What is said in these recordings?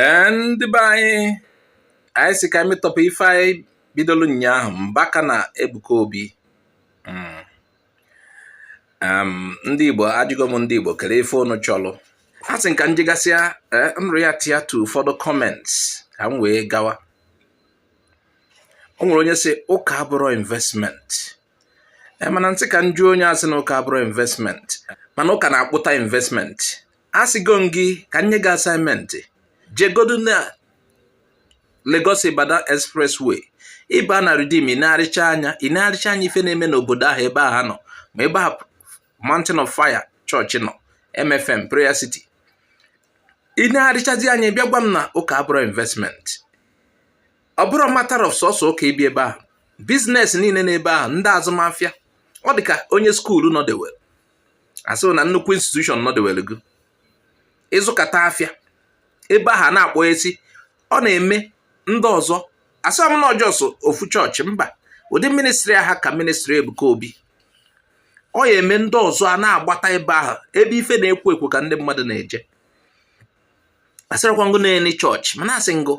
ee ndị be anyị anyị sị ka e metọpụ ife anyị bidoro ụnyaahụ Mbaka na Ebuka Obi hmm. ndị Igbo ajụgo m ndị Igbo kere ife unu chọrọ asị m ka m jegasịa eh, m reactịa to ụfọdụ comments ka m wee gawa o nwere onye sị ụka abụrọ investment eh, mana m sị ka m jụọ onye a sị na ụka abụrọ investment mana ụka na-akpụta investment asịgo m gị ka m nye gị assignment jegodu na Lagos Ibadan expressway ị baa na Redeem ị negharịchaa anya ị negharịchaa anya ife na-eme n'obodo ahụ ebe ahụ nọ ma ebe ahụ Mountain of Fire chọọchị nọ MFM Prayer City ị negharịchazie anya bịa gwa m na ụka abụrọ investment ọ bụrọ matter of sọsọ ụka ibi ebe ahụ biznes niile n'ebe ahụ ndị azụmafịa ọ dị ka onye skuulu nọdewere a sị na nnukwu institushọn nọdewere gị ị zụkata afịa ebe ahụ na-akpọ esi ọ na-eme ndị ọzọ asịrọ m na ọ just ofu chọọchị mba ụdị ministri aha ka ministri Ebuka Obi ọ ya-eme ndị ọzọ a na-agbata ebe ahụ ebe ife na-ekwo ekwo ka ndị mmadụ na-eje asịrọkwa m gị na any chọọchị mana asị m gị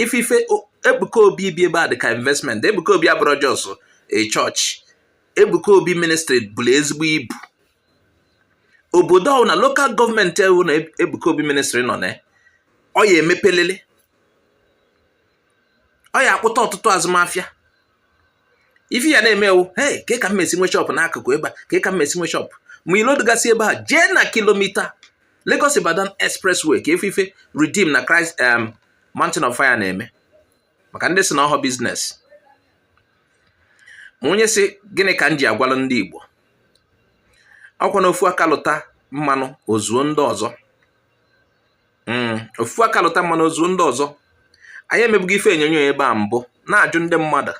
ife ife Ebuka Obi bi ebe a dị ka investment Ebuka Obi abụrọ just a chọọchị Ebuka Obi ministri buru ezigbo ibu obodo ọwụna lokal gọọmenti ọwụna Ebuka Obi ministri nọ na ọ ya-emepelili ọ ya-akpụta ọtụtụ azụmafịa ife ị ya na-eme wụ hey kee ka m ya-esi nwee shọpụ n'akụkụ ebe a kee ka m ya-esi nwee shọpụ ma ilodugasị ebe a jee na kilomita Lagos Ibadan expressway ka ị fụ ife Redeem na Christ um, Mountain of Fire na-eme maka ndị sị na ọhọ biznes ma onye sị gịnị ka m ji agwalụ ndị Igbo ọkwa na ofu aka lụta mmanụ o zuo ndị ọzọ hmm, ofu aka lụta mmanụ o zuo ndị ọzọ anyị emebugo ife onyonyo ebe a mbụ na-ajụ ndị mmadụ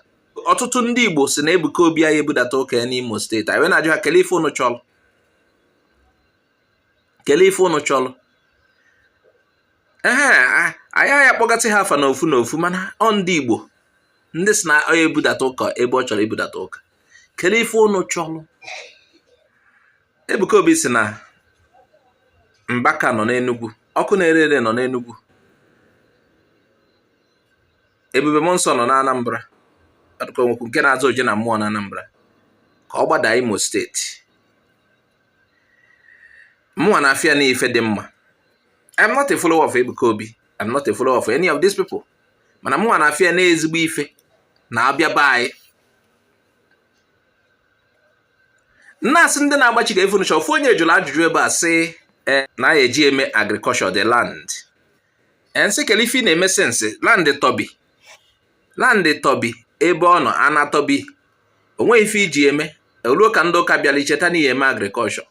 ọtụtụ ndị Igbo sị na Ebuka Obi ayaghị ebudata ụka ya n'Imo steeti anyị wee na-ajụ ha kelee ife unu chọrọ kelee ife ụnụ chọrọ ehe anyị agaghị akpọgasị ha afa n'ofu n'ofu mana ọ ndị Igbo ndị sị na ọ ebudata ụka ebe ọ chọrọ ibudata ụka kelee ife ụnụ chọrọ Ebuka Obi sị na Mbaka nọ n'Enugwu ọkụ na-ere ere nọ n'Enugwu Ebube Mmụọnsọ nọ n'Anambra ọ dị ka e nwekwu nke na-aza Oje na mmụọ n'Anambra ka ọ gbada Imo steeti mụnwa na-afụ ya na ife dị mma I'm not a follower of Ebuka Obi I'm not a follower of any of these people mana mụnwa na-afụ ya na ezigbo ife na-abịa be anyị m na-asị ndị na-agbachi kee ife unu chọ ofu onye jụrụ ajụjụ ebe a sị eh, na ya eji eme agriculture the land m sị kele ife ị na-eme since land tọbi land tọbi ebe ọ nọ ana tọbi o nweghị ife iji eme o luo ka ndị ụka bịara i cheta n'ị ya-eme agriculture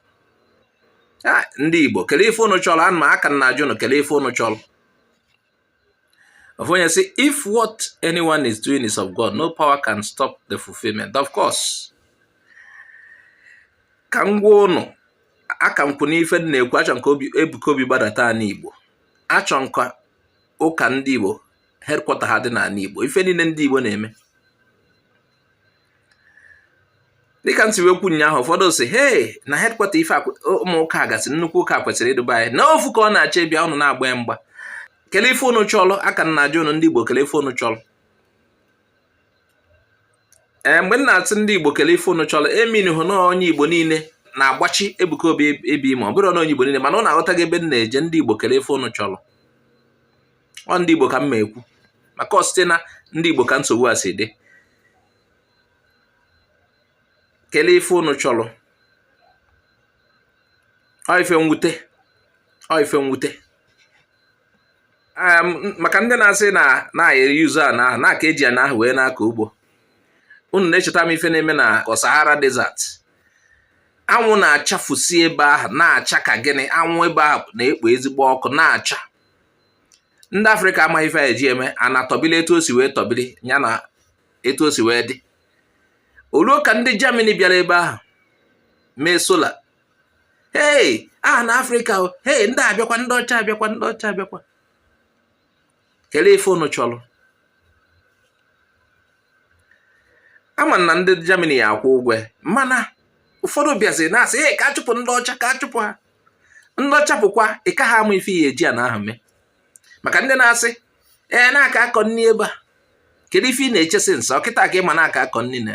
ndị Igbo kele ife unu chọrọ ana m aka na-ajụ unu kele ife unu chọrọ ofu onye sị, if what anyone is doing is of God, no power can stop the fulfillment. Of course. Ka m gwa ụnụ aka m kwụ n'ife m na-ekwu achọ m ka Ebuka Obi gbadata ana Igbo achọ m ka ụka ndị Igbo headquarter ha dị n'ana Igbo ife niile ndị Igbo na-eme dịka m si wee kwu ụnyaahụ ụfọdụ sị hei na headquarter ife ụmụ ụka gasị nnukwu ụka kwesịrị ịdụ eba anyị na ofu ka ọ na-achọ ịbịa ụnụ na-agba ya mgba kele ife ụnụ chọlụ aka m na-ajụ ụnụ ndị Igbo kele ife ụnụ chọlụ ee mgbe m na-atụ ndị Igbo kele ife unu chọrọ e meanịhọ na ọ onye Igbo niile na-agbachi Ebuka Obi ebi ma ọ bụrụ na onye Igbo niile mana unu aghọtago ebe m na-eje ndị Igbo kele ife unu chọrọ ọ ndị Igbo ka m ma ekwu maka ọ site na ndị Igbo ka nsogbu a si dị kele ife unu chọrọ ọ ife mwute ọ ife mwute maka ndị na-asị na e yere use ana ahụ na a ka eji ana ahụ wee na-akọ ugbo unu na-echeta m ife na-eme na Sahara Desert anwụ na-achafusi ebe ahụ na-acha ka gịnị anwụ ebe ahụ na-ekpo ezigbo ọkụ na-acha ndị Afrịka amaghị ife eji eme ana tọbili etu o si wee tọbili ya na etu o si wee dị o luo ka ndị Germany bịara ebe ahụ mee solar hei aha na Afrịka hei ndị a abịakwa ndị ọcha abịakwa ndị ọcha abịakwa kelee ife unu chọrọ ama m na ndị Germany ya akwụ ụgwọ mana ụfọdụ bịazi na-asị ee ka achụpụ ndị ọcha ka achụpụ ha ndị ọcha pụkwa ị ka ha ama ife ị ya-eji ana ahụ mee maka ndị na-asị ee na a ka akọ nni eba kedu ife ị na-eche since ọ kịta ka ị ma na a ka akọ nni na